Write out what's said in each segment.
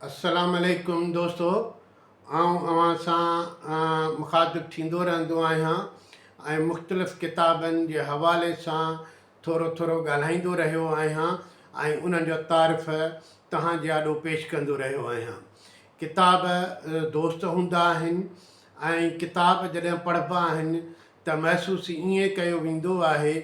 السلام عليڪم دوستو آئون اوهان سان مخاطب ٿيندو رهندو آهيان ۽ مختلف ڪتابن جي حوالي سان ٿورو ٿورو ڳالهائيندو رهيو آهيان ۽ انهن جو تعارف تهان جي آڏو پيش ڪندو رهيو آهيان ڪتاب دوست هوندا آهن ۽ ڪتاب جڏهن پڙهبا آهن ته محسوس ائين ڪيو ويندو آهي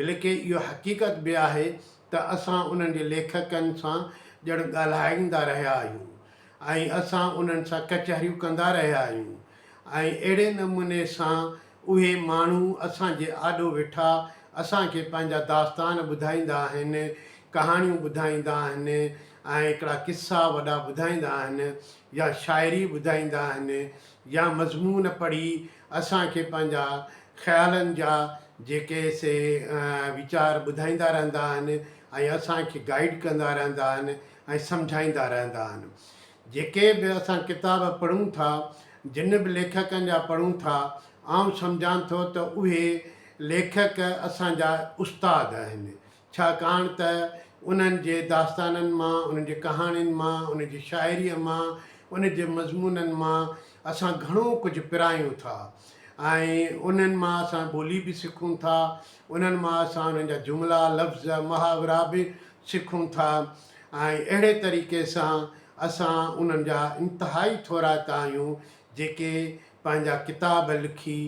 بلڪه اهو حقيقت به آهي ته اسان انهن جي ليکڪن سان ڄڻ ڳالهائيندا رهيا آهيون ۽ اسان انهن سان ڪچهريون ڪندا رهيا آهيون ۽ اهڙي نموني سان اهي ماڻهو اسان جي آڏو ويٺا اسان کي پنهنجا داستان ٻڌائيندا آهن، ڪهاڻيون ٻڌائيندا آهن ۽ هڪڙا قصا وڏا ٻڌائيندا آهن يا شاعري ٻڌائيندا آهن يا مضمون پڙهي اسان کي پنهنجا خيالن جا جيڪي سي ويچار ٻڌائيندا رهندا آهن ۽ اسان کي گائيڊ ڪندا رهندا آهن ۽ سمجهائيندا رهندا آهن جيڪي به اسان ڪتاب پڙهون ٿا جن به ليکڪن جا پڙهون ٿا آئون سمجهان ٿو ته اهي ليکڪ اسان جا استاد آهن ڇاڪاڻ ته انهن جي داستانن مان، انهن جي ڪهاڻين مان، انهن جي شاعريء مان، انهن جي مضمونن مان اسان گهڻو ڪجهه پرايون ٿا ۽ انهن مان اسان ٻولي به سکون ٿا، انهن مان اسان انهن جا جملا، لفظ، محاورا به سکون ٿا ۽ اهڙي طريقي سان اسان انهن جا انتهائي ٿورائتا آهيون، جيڪي پنهنجا ڪتاب لکي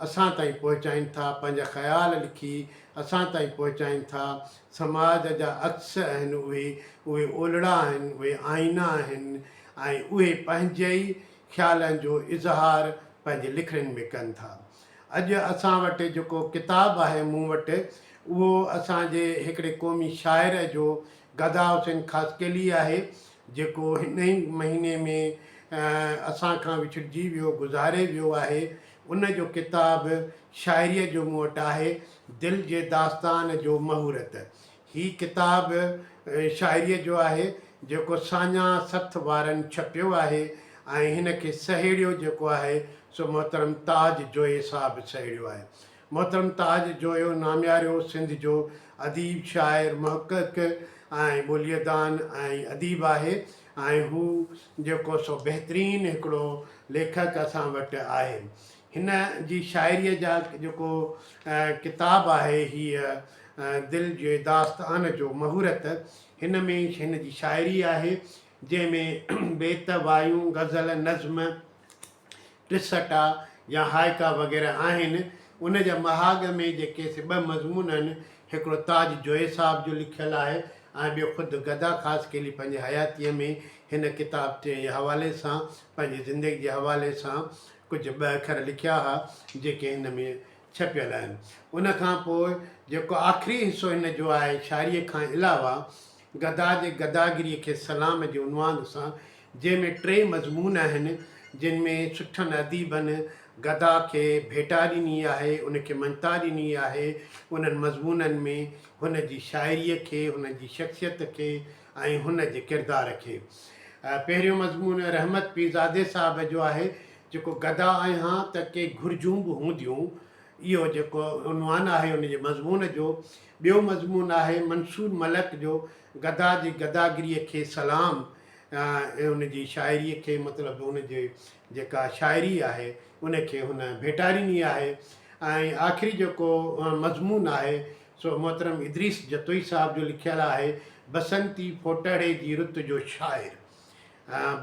اسان تائين پهچائين ٿا، پنهنجا خيال لکي اسان تائين پهچائين ٿا. سماج جا عڪس آهن اهي، اهي اولڙا آهن، اهي آئينا آهن ۽ اهي پنهنجي ئي خيالن جو اظهار پنهنجي لکڻين ۾ ڪن ٿا. اڄ اسان وٽ جيڪو ڪتاب آهي مون وٽ، اهو اسان جي هڪڙي قومي شاعر جو، گدا حسين خاصخيلي، آهي، جيڪو هن ئي مهيني ۾ اسان کان وڇڙجي ويو، گذاري ويو آهي، ان جو ڪتاب شاعريء جو مون وٽ آهي، دل جي داستان جو مهورت. هي ڪتاب شاعريء جو آهي، جيڪو ساڃاهه سٿ وارن ڇپيو آهي ۽ هن کي سهيڙيو جيڪو آهي، سو محترم تاج جويي صاحب سهيڙيو آهي. محترم تاج جويو نامياريو سنڌ جو اديب، شاعر، محقق ۽ ٻوليء دان ۽ اديب آهي ۽ هو جيڪو سو بهترين هڪڙو ليکڪ اسان وٽ آهي. هن جي شاعريء جا جيڪو ڪتاب آهي هيء دل جي داستان جو مهورت هن ۾ هن جي شاعري آهي جنهن ۾ بيت، وايون، غزل، نظم، ٽسٽا يا هائيڪا وغيره آهن. ان جا مهاڳ ۾ جي ڪيس ٻه مضمون آهن، هڪڙو تاج جويي صاحب جو لکيل آهي ۽ ٻيو خود گدا خاصخيلي پنهنجي حياتيء ۾ هن ڪتاب جي حوالي سان پنهنجي زندگي جي حوالي سان ڪجهه ٻه اکر لکيا ها، جيڪي هن ۾ ڇپيل آهن. ان کان پوء جيڪو آخري حصو هن جو آهي، شاعريء کان علاوه، گدا جي گداگريء کي سلام جي عنوان سان جنهن ۾ ٽي مضمون آهن جن ۾ سٺن اديبن گدا کي ڀيٽا ڏني آهي ان کي مڃتا ڏني آهي انهن مضمونن ۾ هن جي شاعريء کي هن جي شخصيت کي ۽ هن جي ڪردار کي پهريون مضمون رحمت پيرزادي صاحب جو آهي جيڪو گدا آهيان ته ڪي گهرجون به هونديون اهو جيڪو عنوان آهي ان جي مضمون جو ٻيو مضمون آهي منصور ملڪ جو گدا جي گداگريء کي سلام ۽ ان جي شاعريء کي مطلب ان جي جيڪا شاعري آهي ان کي هن ڀيٽا ڏني آهي ۽ آخري جيڪو مضمون آهي سو محترم ادريس جتوئي صاحب جو لکيل آهي بسنتي ڦوٽهڙي جي رت جو شاعر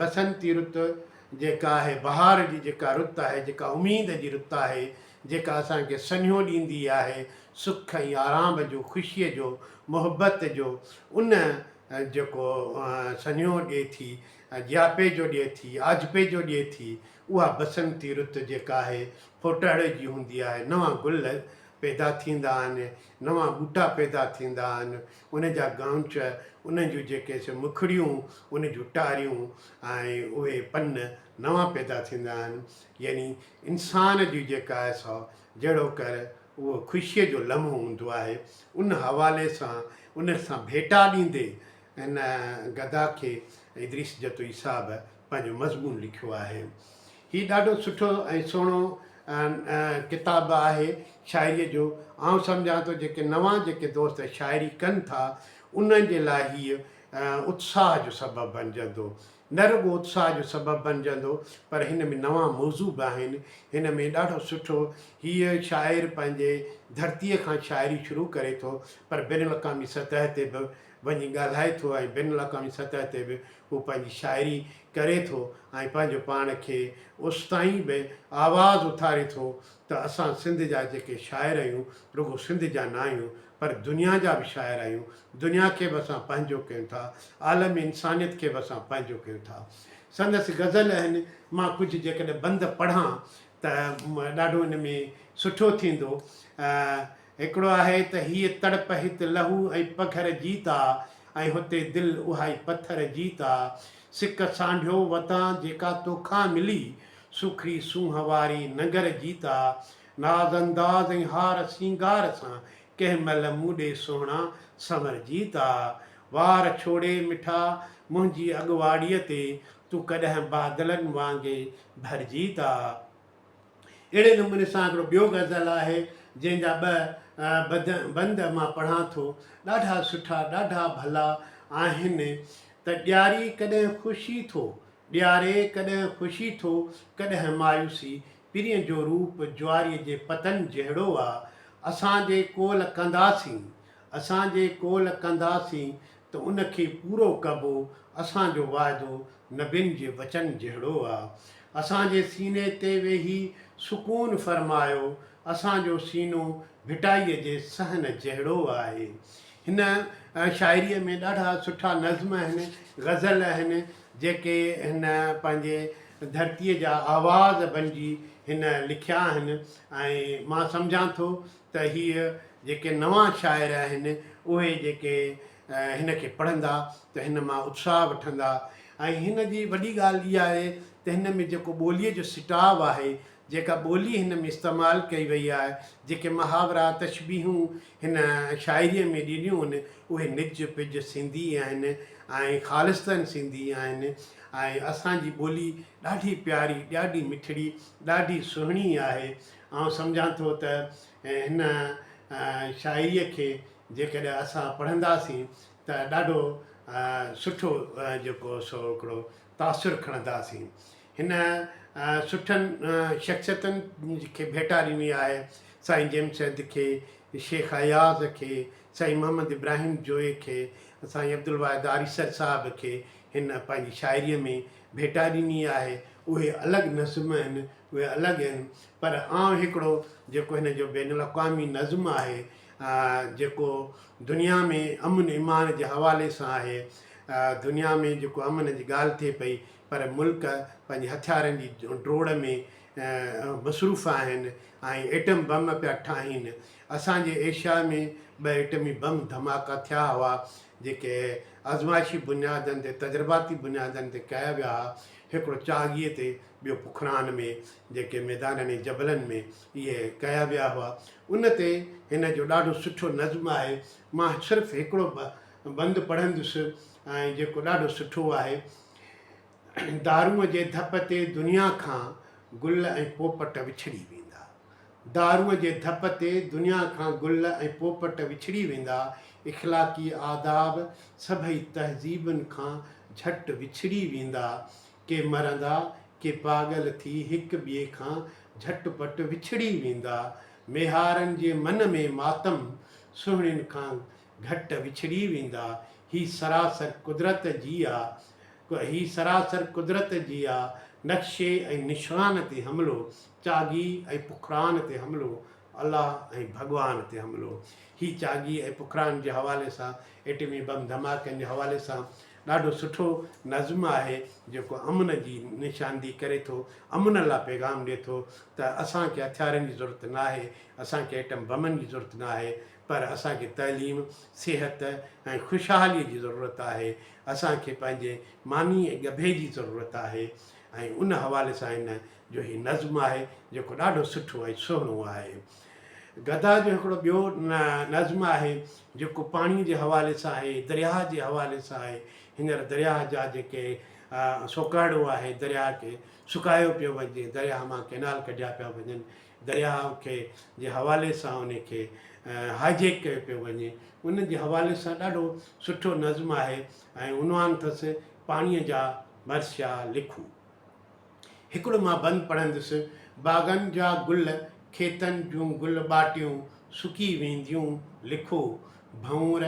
بسنتي رت، جيڪا آهي بهار جي جيڪا رت آهي، جيڪا اميد جي رت آهي، جيڪا اسان کي سنيهو ڏيندي آهي سک ۽ آرام جو، خوشيء جو، محبت جو، ان جيڪو سنيهو ڏئي ٿي، جياپي جو ڏئي ٿي، آجپي جو ڏئي ٿي، اها بسنتي رت جيڪا آهي ڦوٽهڙي جي هوندي آهي، نوان گل پيدا ٿيندا آهن، نوان ٻوٽا پيدا ٿيندا آهن، ان جا ڳانچ، انهن جون جيڪي سي مکڙيون، ان جون ٽاريون ۽ اهي پن نوان پيدا ٿيندا آهن. يعني انسان جي جيڪا آهي سو جهڙوڪر اهو خوشيء جو لمحو هوندو آهي، ان حوالي سان ان سان ڀيٽا ڏيندي هن گدا کي ادريس جتوئي صاحب پنهنجو مضمون لکيو آهي. هي ڏاڍو سٺو ۽ سهڻو ڪتاب آهي شاعريء جو. آئون سمجهان ٿو جيڪي نوان جيڪي دوست شاعري ڪن ٿا انهن جي لاء هيء اتساهه جو سبب بنجندو. نه رڳو اتساهه جو سبب بنجندو پر هن ۾ نوان موضوع به آهن. هن ۾ ڏاڍو سٺو هيء شاعر پنهنجي ڌرتيء کان شاعري شروع ڪري ٿو پر بين الاقامي سطح تي به وڃي ڳالهائي ٿو ۽ بين الاقوامي سطح تي به هو پنهنجي شاعري ڪري ٿو ۽ پنهنجو پاڻ کي اوستائين به آواز اٿاري ٿو ته اسان سنڌ جا جيڪي شاعر آهيون رڳو سنڌ جا نه آهيون پر دنيا جا به شاعر آهيون دنيا کي به اسان پنهنجو ڪيون ٿا عالم انسانيت کي به اسان پنهنجو ڪيون ٿا سندس غزل اهن مان ڪجهه جيڪڏهن بند پڙهان ته ڏاڍو ان ۾ سٺو ٿيندو. هڪڙو آهي ته هيء تڙپ هت لهو ۽ پگهر جيت آ ۽ هتي دل اهائي پٿر جيت آ. سڪ سانڍيو وتان جيڪا توکان ملي، سوکڙي سونهن واري ننگر جيت آ. ناز انداز ۽ هار سينگار سان ڪنهن مهل مون ڏي سهڻا سنور جيت آ. وار ڇوڙي مٺا منهنجي اڳواڙيء تي تون ڪڏهن بادلن وانگي ڀرجي ٿا. اهڙي نموني سان هڪڙو ٻيو غزل آهي جنهن جا ٻه بد بند مان پڙهان ٿو ڏاڍا سٺا ڏاڍا ڀلا آهن ته ڏياري ڪڏهن خوشي ٿو ڏياري ڪڏهن خوشي ٿو ڪڏهن مايوسي پرين جو روپ جواري جي پتن جهڙو آ اسان جي ڪول ڪنداسين اسان جي ڪول ڪنداسين ته ان کي پورو ڪبو، اسان جو وعدو نبين جي وچن جهڙو آ. اسان جي سيني تي ويهي سڪون فرمايو، اسان جو سينو ڀٽائيء جي صحن جهڙو آهي. هن شاعريء ۾ ڏاڍا سٺا نظم آهن، غزل آهن، جيڪي هن پنهنجي ڌرتيء جا آواز بنجي هن لکيا آهن ۽ مان سمجهان ٿو ته هيء جيڪي نوان شاعر آهن، اهي جيڪي هن کي پڙهندا ته هن مان اتساهه وٺندا ۽ هن جي وڏي ڳالهه اها آهي ته هن ۾ جيڪو ٻوليء جو سٽاو آهي، جيڪا ٻولي هن ۾ استعمال ڪئي وئي آهي، جيڪي محاورا، تشبيهون هن شاعريء ۾ ڏنيون هن، اهي نج پج سنڌي آهن ۽ خالصتن سنڌي آهن ۽ اسان جي ٻولي ڏاڍي پياري، ڏاڍي مٺڙي، ڏاڍي سهڻي آهي. آئون سمجهان ٿو ته هن شاعريء کي جيڪڏهن اسان پڙهنداسين ته ڏاڍو سٺو جيڪو سو هڪڙو تاثر کڻنداسين. هن سٺن شخصيتن کي ڀيٽا ڏني آهي، سائين جيمس سيد کي، شيخ اياز کي، سائين محمد ابراهيم جويي کي، سائين عبدالواحد آريسر صاحب کي هن پنهنجي شاعريء ۾ ڀيٽا ڏني آهي، اهي الڳ نظم آهن، اهي الڳ آهن، پر آئون هڪڙو جيڪو هن جو بين الاقوامي نظم آهي، جيڪو دنيا ۾ امن امان جي حوالي سان آهي، دنيا ۾ جيڪو امن جي ڳالهه ٿئي پئي، پر ملڪ پنهنجي هٿيارن جي ڊوڙ ۾ مصروف آهن ۽ ايٽم بم پيا ٺاهين، اسان جي ايشيا ۾ ٻه ايٽمي بم ڌماڪا ٿيا هئا، جيڪي آزمائشي بنيادن تي تجرباتي بنيادن تي ڪيا ويا ها هڪڙو چاڳيء تي ٻيو پکران ۾ جيڪي ميدانن ۽ جبلن ۾ اهي ڪيا ويا هئا ان تي هن جو ڏاڍو سٺو نظم آهي مان صرف هڪڙو بند پڙهندس ۽ جيڪو ڏاڍو سٺو آهي دارونء جي ڌپ تي دنيا کان گل ۽ پوپٽ وڇڙي ويندا دارو جي ڌپ تي دنيا کان گل ۽ پوپٽ وڇڙي ويندا، اخلاقي آداب سڀئي تهذيبن کان جهٽ وڇڙي ويندا. ڪي مرندا، ڪي پاڳل ٿي هڪ ٻئي کان جهٽ پٽ وڇڙي ويندا. ميهارن جي من ۾ ماتم سهڻين کان گهٽ وڇڙي ويندا، هي سراسر قدرت جي آ هي سراسر قدرت جي آ نقشي ۽ نشان تي حملو، چاڳي ۽ پکران تي حملو، الله ۽ ڀڳوان تي حملو. هي چاڳي ۽ پکران جي حوالي سان ايٽمي بم ڌماڪن جي حوالي سان ڏاڍو سٺو نظم آهي جيڪو امن جي نشاندهي ڪري ٿو امن لا پيغام ڏي ٿو ته اسان کي هٿيارن جي ضرورت ناهي اسان کي ايٽم بمن جي ضرورت ناهي پر اسان کي تعليم، صحت ۽ خوشحاليء جي ضرورت آهي، اسان کي پنهنجي ماني ۽ ڳڀي جي ضرورت آهي ۽ ان حوالي سان هن جو هي نظم آهي جيڪو ڏاڍو سٺو ۽ سهڻو آهي. گدا جو هڪڙو ٻيو نظم آهي جيڪو پاڻي جي حوالي سان آهي، درياهه جي حوالي سان آهي، هينئر درياهه جا جيڪي سوڪهڙو آهي، درياهه کي سڪايو پيو وڃي، درياهه مان ڪئنال ڪڍيا پيا وڃن، درياهه کي جي حوالي سان ان کي هاء جيڪ ڪيو پيو وڃي ان جي حوالي سان ڏاڍو سٺو نظم آهي ۽ عنوان اٿس پاڻيء جا ڀرسيا لکون هڪڙو مان بند پڙهندس باغن جا گل کيتن جون گل ٻاٽيون سڪي وينديون لکو ڀنور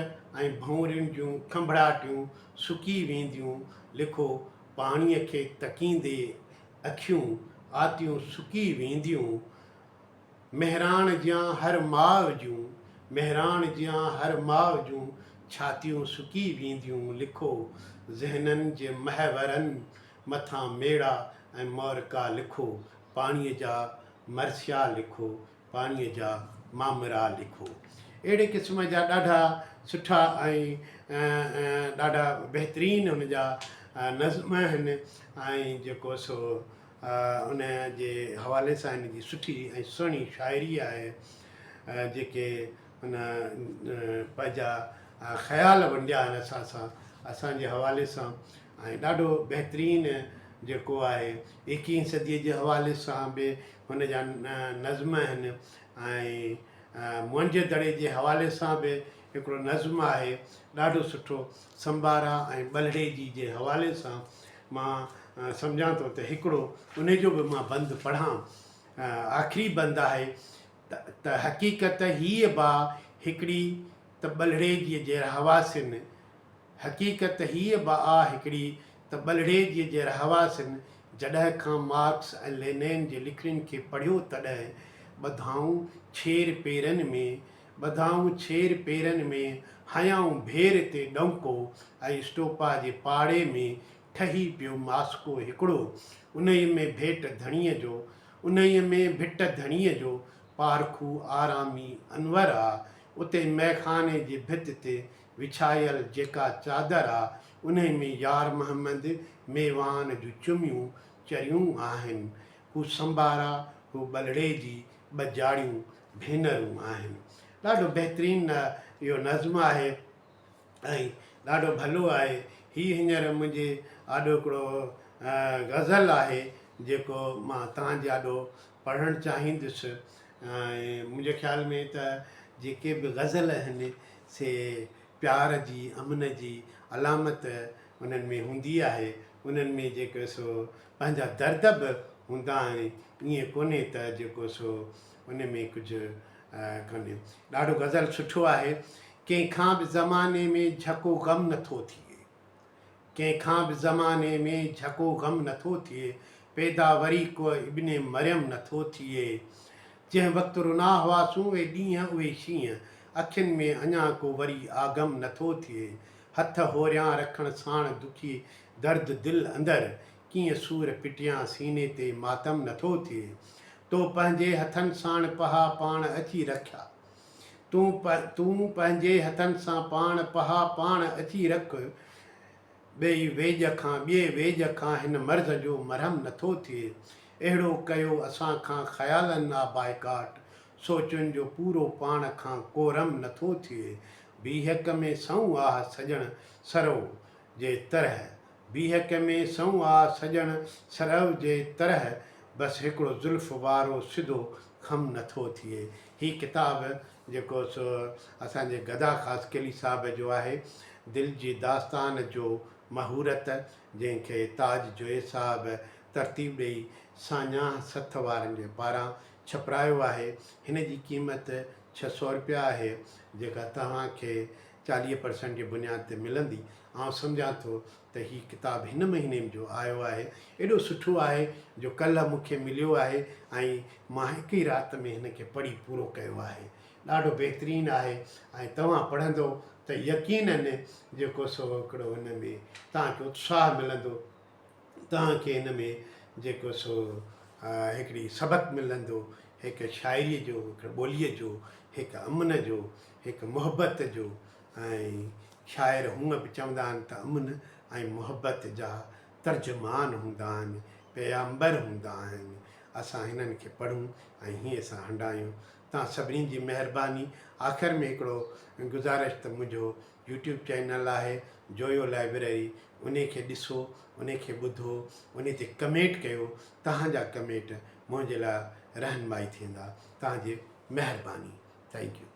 ۽ ڀنورين جون کنڀڙاٽيون سڪي وينديون لکو پاڻيء کي تڪيندي اکيون آتيون سڪي وينديون مهراڻ جيان هر ماء جون مهراڻ جيان هر ماء جون ڇاتيون سڪي وينديون لکو ذهنن جي محورن مٿان ميڙا ۽ مورڪا لکو پاڻي جا مرثيا لکو پاڻيء جا مامرا لکو. اهڙي قسم جا ڏاڍا سٺا ۽ ڏاڍا بهترين ان جا نظم آهن ۽ جيڪو سو ان جي حوالي سان ان جي سٺي ۽ سهڻي شاعري آهي جيڪي ان پنهنجا خيال ونڊيا آهن اسان سان اسان جي حوالي سان ۽ ڏاڍو بهترين جيڪو آهي ايڪيهين صديء جي حوالي سان به هن جا نظم آهن ۽ منهنجي دڙي جي حوالي سان به هڪڙو نظم آهي ڏاڍو سٺو سمبارا ۽ ٻلهڙي جي جي حوالي سان مان سمجهان ٿو ته هڪڙو انهي جو به مان بند پڙهان آخري بند آهي ته حقيقت هيء با هڪڙي ته ٻلهڙي جي جي رهواسين حقيقت هيء به آ هڪڙي ته ٻلهڙيجيء جي رهواسين جڏهن کان مارڪس ۽ لينين جي لکڻين کي پڙهيو تڏهن ٻڌائون ڇير پيرن ۾، ٻڌائون ڇير پيرن ۾، هنيائون ڀير تي ڏونڪو ۽ اسٽوپا جي پاڙي ۾ ٺهي پيو ماسڪو هڪڙو، انهيء ۾ ڀيٽ ڌڻيء جو، انهيء ۾ ڀٽ ڌڻيء جو پارکو آرامي انور آ، اتي مئخاني جي ڀت تي وڇايل جيڪا چادر آ انهي ۾ يار محمد ميوان جون چميون چريون آهن. هو سنبارا هو ٻلڙي جي ٻه جاڙيون ڀينرون آهن. ڏاڍو بهترين اهو نظم آهي ۽ ڏاڍو ڀلو آهي. هي هينئر منهنجي آڏو هڪڙو غزل آهي جيڪو مان تهان جي آڏو پڙهڻ چاهيندس. منهنجي خيال ۾ ته جيڪي به غزل آهن سي پيار جي امن جي علامت انهن ۾ هوندي آهي انهن ۾ جيڪو سو پنهنجا درد به هوندا آهن ائين ڪونهي ته جيڪو سو ان ۾ ڪجهه ڪونهي ڏاڍو غزل سٺو آهي ڪنهن کان به زماني ۾ جهڪو غم نٿو ٿئي. ڪنهن کان به زماني ۾ جهڪو غم نه ٿو ٿئي، پيدا وري ڪو ابن مريم نه ٿو ٿئي. جنهن وقت رنا هئاسون اهي ڏينهن اهي شينهن، اکين ۾ اڃا ڪو وري آگم نه ٿو ٿئي. هٿ هوريان رکڻ ساڻ دکي درد دل اندر، ڪيئن سور پٽيان سيني تي ماتم نه ٿو ٿئي. تو پنهنجي هٿن ساڻ پها پاڻ اچي رکيا. تون تون پنهنجي هٿن سان پاڻ پها پاڻ اچي رک ٻئي ويڄ کان ٻئي ويڄ کان هن مرض جو مرهم نٿو ٿئي اهڙو ڪيو اسان کان خيالن آ بائيڪاٽ سوچن جو پورو پاڻ کان ڪورم نٿو ٿئي بيهڪ ۾ سنئون آه سڄڻ سرئو جي ترهه بيهڪ ۾ سنئون آه سڄڻ سرئو جي ترهه بس هڪڙو زلف وارو سڌو خم نٿو ٿئي هي ڪتاب جيڪو سو اسان جي گدا خاص قلي صاحب جو آهي، دل جي داستان جو مهورت، جنهن کي تاج جويي صاحب ترتيب ڏئي ساڃاهه سٿ وارن جي پاران ڇپرايو آهي. هن جي قيمت ڇهه سؤ رپيا آهي، جيڪا توهان کي چاليهه پرسنٽ جي بنياد تي ملندي. آئون سمجهان ٿو ته هي ڪتاب هن مهيني م جو آيو آهي ايڏو سٺو آهي جو ڪلهه مون کي مليو آهي ۽ مان هڪ ئي رات ۾ هن کي پڙهي پورو ڪيو آهي ڏاڍو بهترين آهي ۽ توهان پڙهندو ته يقينن جيڪو سو هڪڙو هن ۾ توهان کي اتساهه ملندو توهان کي هن ۾ جيڪو سو هڪڙي سبق ملندو هڪ شاعري جو هڪ ٻولي جو هڪ امن جو هڪ محبت جو ۽ شاعر هونء به چوندا آهن ته امن ۽ محبت جا ترجمان هوندا آهن، پيامبر هوندا آهن. اسان هنن کي پڙهون ۽ هيئن سان هنڊايون. توهان سڀني جي مهرباني. آخر ۾ هڪڙو گذارش ته منهنجو يوٽيوب چينل آهي جويو لائبرري انهي کي ڏسو، انهي کي ٻڌو، انهي تي ڪمينٽ ڪيو، توهان جا ڪمينٽ منهنجي لاء رهنمائي ٿيندا. توهان جي مهرباني. Thank you.